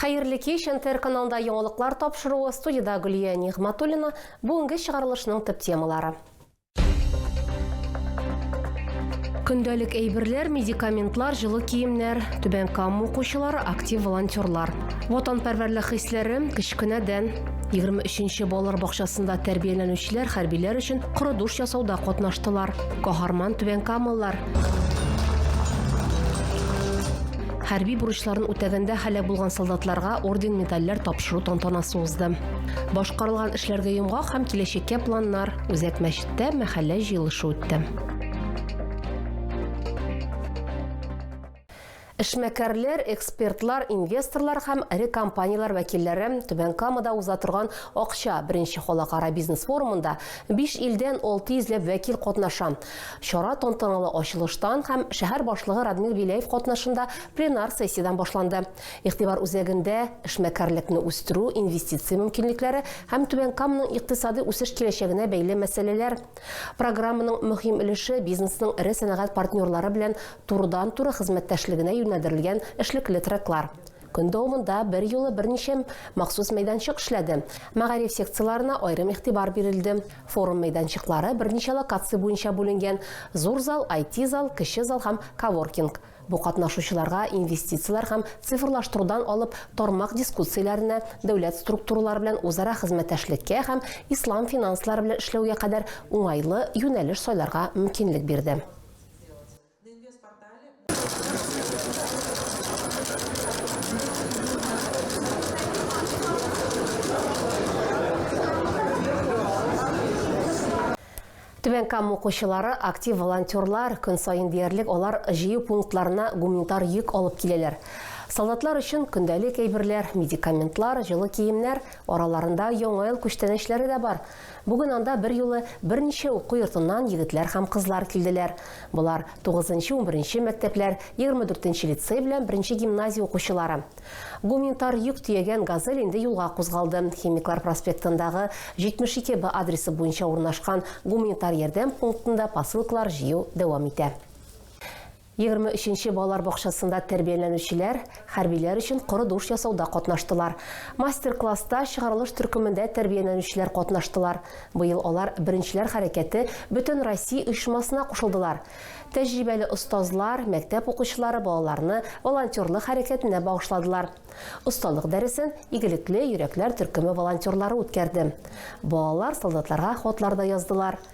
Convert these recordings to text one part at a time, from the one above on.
Хәерле кич, НТР каналында яңалыклар тапшыруы, студида Гөлия Нигъматуллина, бүгенге чыгарылышның төп темалары. Көндәлек әйберләр, медикаментлар, җылы киемнәр, Түбән Кама укучылары, актив волонтерлар. Ватанпәрвәрлек хисләре, кечкенәдән. 23-нче балалар бакчасында тәрбияләнүчеләр хәрбиләр өчен коры душ ясауда катнаштылар. Каһарман түбәнкамалылар. Хәрби бурычларын үтәгәндә һәлак булган солдатларга орден-медальләр тапшыру тантанасы узды. Башкарылган эшләргә йомгак һәм киләчәккә планнар Үзәк мәчеттә мәхәллә җыелышы үтте. Эшмәкәрләр, экспертлар, инвесторлар һәм эре компанияләр вәкилләре Түбән Камада уза торган Акча беренче халыкара бизнес форумында 5 илдән 600 ләп вәкил катнаша. Чара тантаналы ачылыштан һәм шәһәр башлыгы Радмир Беляев катнашында пленар сессиядән башланды. Игътибар үзәгендә эшмәкәрлекне үстерү, инвестиция мөмкинлекләре һәм Түбән Каманың икътисадый үсеш киләчәгенә бәйле мәсьәләләр. Программаның мөһим өлеше бизнесның эре сәнәгать партнерлары белән турыдан-туры хезмәттәшлегенә юнәлдерелгән эшлекле треклар. Көн дәвамында берьюлы берничә махсус мәйданчык эшләде, мәгариф секцияләренә аерым игътибар бирелде. Форум мәйданчыклары берничә локация буенча бүленгән, зур зал, IT-зал, кече зал һәм коворкинг. Бу катнашучыларга инвестицияләр һәм цифрлаштырудан алып тармак дискуссияләренә, дәүләт структуралары белән үзара хезмәттәшлеккә һәм ислам финанслары белән эшләүгә кадәр уңайлы юнәлеш сайларга мөмкинлек бирде. Түбән Кама укучылары актив волонтерлар, көн саен диярлек алар җыю пунктларына гуманитар йөк алып киләләр. Солдатлар өчен көндәлек әйберләр, медикаментлар, җылы киемнәр, араларында Яңа ел күчтәнәчләре дә бар. Бүген анда берьюлы берничә уку йортыннан егетләр һәм кызлар килделәр. Болар, тугызынчы-унберенче мәктәпләр, егерме дүртенче лицей белән беренче гимназия укучылары. Гуминтар йөк төягән Газель инде юлга кузгалды. Химиклар проспектындагы 72 Б адресы буенча урнашкан гуманитар ярдәм пунктында посылкалар җыю дәвам итә. Егерме өченче балалар бакчасында тәрбияләнүчеләр хәрбиләр өчен коры душ ясауда катнаштылар. Мастер-класста чыгарылыш төркемендә тәрбияләнүчеләр катнаштылар. Быел алар Беренчеләр хәрәкәте бөтенроссия оешмасына кушылдылар. Тәҗрибәле остазлар, мәктәп укучылары балаларны волонтерлык хәрәкәтенә багышладылар. Осталык дәресен Игелекле йөрәкләр төркеме волонтерлары үткәрде. Балалар солдатларга хатлар да яздылар.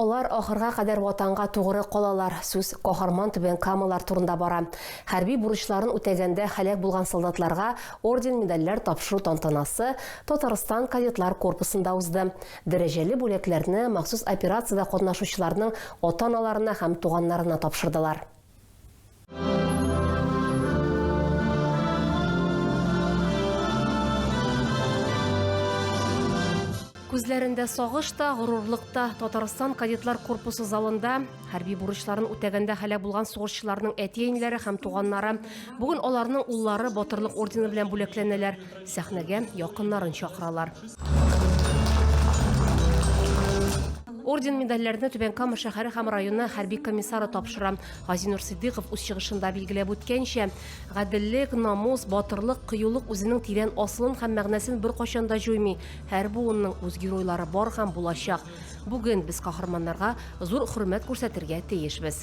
Алар ахырга кадәр ватанга тугры калалар. Сүз каһарман түбән камалар турында бара. Хәрби бурычларын үтәгәндә һәлак булган солдатларга орден медальләр тапшыру тантанасы Татарстан кадетлар корпусында узды. Дәрәҗәле бүләкләрне махсус операциядә катнашучыларның ата-аналарына һәм туганнарына тапшырдылар. Күзләрендә сагыш та, горурлык та Татарстан кадетлар корпусы залында хәрби бурычларын үтәгәндә һәлак булган сугышчыларның әти-әниләре һәм туганнары. Бүген аларның уллары батырлык ордены белән бүләкләнәләр. Сәхнәгә якыннарын чакыралар. Орден-медальләрне Түбән Кама шәһәре һәм районы хәрби комиссары тапшыра. Газинур Сиддыйков үз чыгышында билгеләп үткәнчә, гаделлек, намус, батырлык, кыюлык үзенең тирән асылын һәм мәгънәсен беркайчан да җуймый. Һәр буынның үз геройлары бар һәм булачак. Бүген без каһарманнарга зур хөрмәт күрсәтергә тиешбез.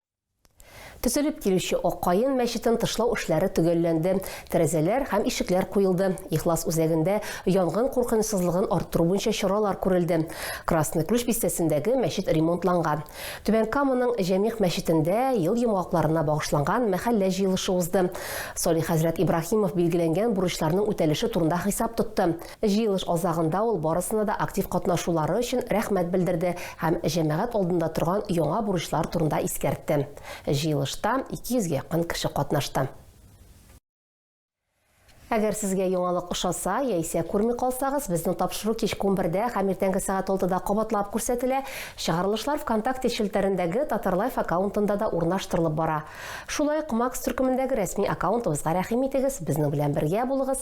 Төзелеп килүче Аккаен мәчетен тышлау эшләре төгәлләнде. Тәрәзәләр һәм ишекләр куелды. Ихлас үзәгендә янгын куркынычсызлыгын арттыру буенча чаралар күрелде. Красный Ключ бистәсендәге мәчет ремонтланган. Түбән Каманың Җәмигъ мәчетендә ел йомгакларына багышланган мәхәллә җыелышы узды. Салих хәзрәт Ибраһимов билгеләнгән бурычларның үтәлеше турында хисап тотты. Җыелыш азагында ул барысына да актив катнашулары өчен рәхмәт белдерде һәм җәмәгать алдында торган яңа бурычлар турында искәртте. Җыелышта 200 гә якын кеше катнашты. Әгәр сезгә яңалык ошаса, яисә күрми калсагыз, безнең тапшыру кичке унбердә һәм иртәнге сәгать алтыда кабатлап күрсәтелә. Чыгарылышлар Вконтакте челтәрендәге Татарлайф аккаунтында да урнаштырылып бара. Шулай ук Макс төркемендәге рәсми аккаунтыбызга рәхим итегез, безнең белән бергә булыгыз.